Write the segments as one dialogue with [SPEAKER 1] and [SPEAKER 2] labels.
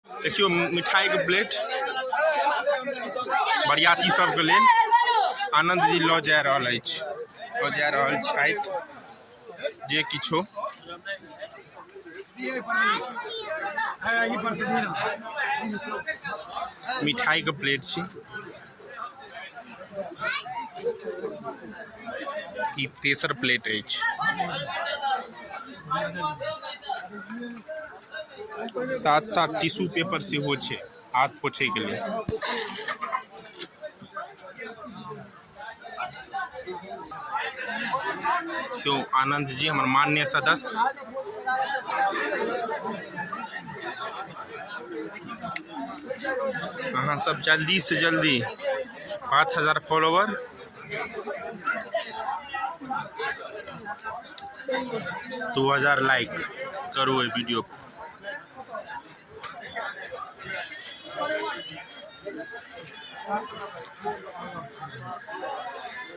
[SPEAKER 1] देखियौ मिठाइके प्लेट बरियाती सबके लेल आनन्द जी लऽ जा रहल अछि लऽ जा रहल छथि जे किछो मिठाइके प्लेट छी ई तेसर प्लेट अछि साथ साथ टिश्यू पेपर सेहो छै हाथ पोछैके लेल केओ आनन्द जी हमर मान्य सदस्य अहाँ सब जल्दी से जल्दी पाँच हजार फॉलोवर दू हजार लाइक करू एहि वीडियो पर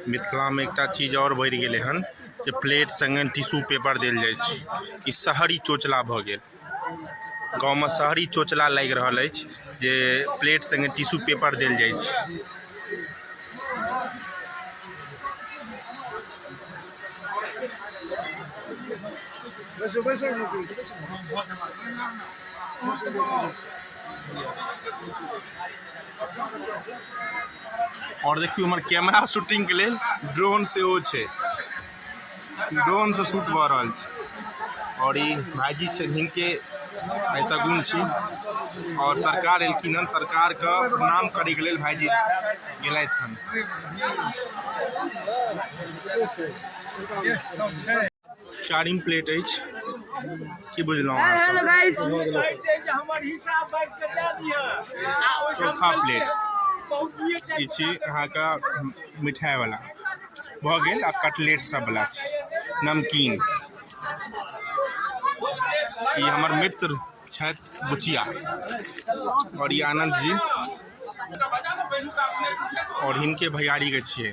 [SPEAKER 1] मिथिलामे एकटा चीज आओर बढ़ि गेलै हन जे प्लेट सङ्गे टिश्यू पेपर देल जाइ छै ई शहरी चोचला भऽ गेल गाँवमे शहरी चोचला लागि रहल अछि जे प्लेट सङ्गे टिश्यू पेपर देल जाइ छै आओर देखियौ हमर कैमरा शूटिंगके लेल ड्रोन सेहो छै ड्रोन से शूट भऽ रहल छै और ई भाईजी छै हिनके भाई सगुन छी और सरकार एलखिन हन सरकार के प्रणाम करे के लेल भाईजी गेलथि हन चारिम प्लेट अछि की बुझलहुँ हेलो गाइस चौथा प्लेट ई छी अहाँके मिठाइवला भऽ गेल आ कटलेट सब बला छै नमकीन ई हमर मित्र छथि बुचिया आओर ई आनन्द जी आओर हिनके भैयारी के छियै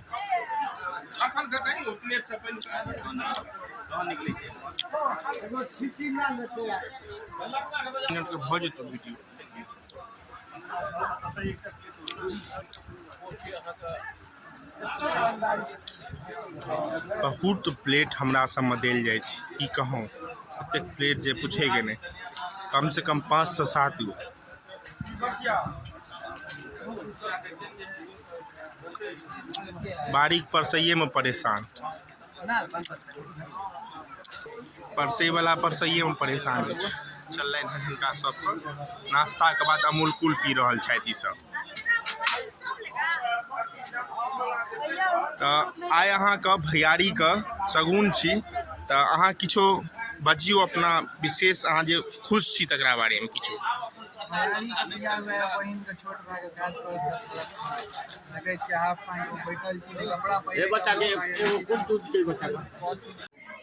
[SPEAKER 1] भऽ जेतौ वीडियो बहुत प्लेट हमरा सबमे देल जाइ छै की कहौं एतेक प्लेट जे पूछैके नहि कम से कम पाँच सऽ सात गो बारीक पर सहियेमे परेशान परसैवला परसैएमे परेशान अछि चललनि हँ हिनका सबपर नाश्ताके बाद अमूल कूल पी रहल छथि ईसब तऽ आइ अहाँके भैयारीके सगुन छी तऽ अहाँ किछो बजियौ अपना विशेष अहाँ जे खुश छी तकरा बारेमे किछो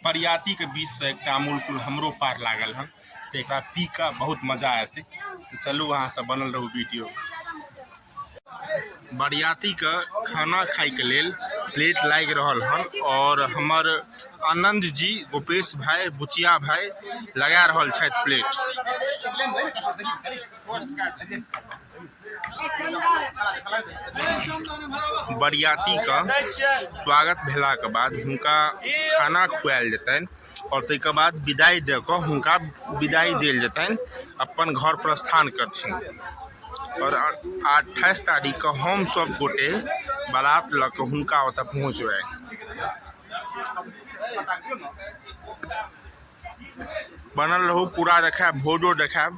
[SPEAKER 1] बरियाती के बीच से एकटा अमूल कुल हमरो पार लागल हन तऽ एकरा पी कऽ बहुत मजा एतै तऽ चलू अहाँ सब बनल रहू वीडियो बरियाती के खाना खाय के लेल प्लेट लाग रहल हन और हमर आनंद जी गोपेश भाई बुचिया भाई लगा रहल छथि प्लेट बरियातीके स्वागत भेलाके बाद हुनका खाना खुआएल जेतनि आओर ताहिके बाद विदाइ दऽ कऽ हुनका विदाइ देल जेतनि अपन घर प्रस्थान करथिन आओर अट्ठाइस तारीखके हम सब गोटे बारात लऽ कऽ हुनका ओतऽ पहुँचबै बनल रहू पूरा देखायब भोजो देखायब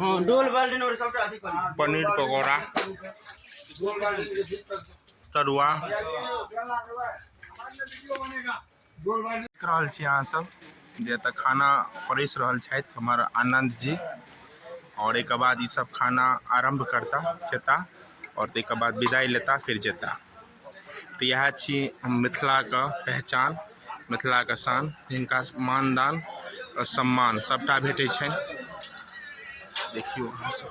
[SPEAKER 1] हाँ डोल बाल्टीन और सबटा अथी कर पनीर पकौड़ा डोल बाल्टीन के ठीक कर तरुआ डोल बाल्टीन देख रहल छी अहाँ सब जे एतऽ खाना परेस रहल छथि हमर आनन्द जी आओर एहिके बाद ई सब खाना आरम्भ करता खेता आओर ताहिके बाद विदाइ लेता फिर जेता तऽ इएह छी हम मिथिलाके पहचान मिथिलाके शान जिनका मानदान आ सम्मान सभटा भेटै छनि देखियौ अहाँ सभ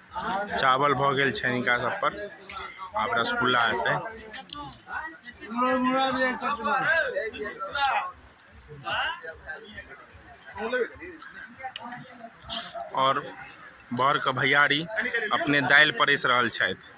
[SPEAKER 1] चावल भऽ गेल छै हिनका सब पर आब रसगुल्ला हेतै आओर बरके भैयारी अपने दालि परसि रहल छथि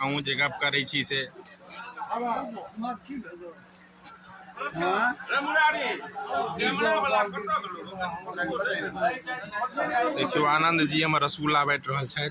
[SPEAKER 1] अहूँ जे गप करै छी से देखियौ आनन्द जी हमर रसगुल्ला बाँटि रहल छथि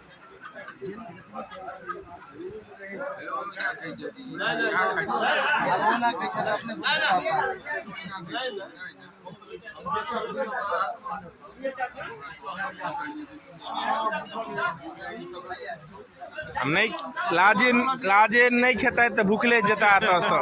[SPEAKER 1] आ नहि लाजे लाजे नहि खेतै तऽ भुखले जेता एतऽसँ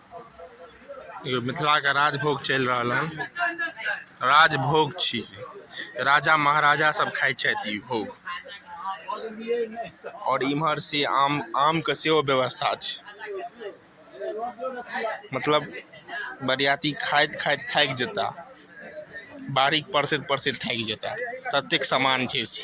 [SPEAKER 1] देखियौ मिथिलाके राजभोग चलि रहल हन राजभोग छी राजा महाराजा सब खाइ छथि ई भोग आओर इम्हर से आम आमके सेहो व्यवस्था छै मतलब बरियाती खाइत खाइत थाकि जेता बारीक परसैत परसैत थाकि जेता ततेक सामान छै से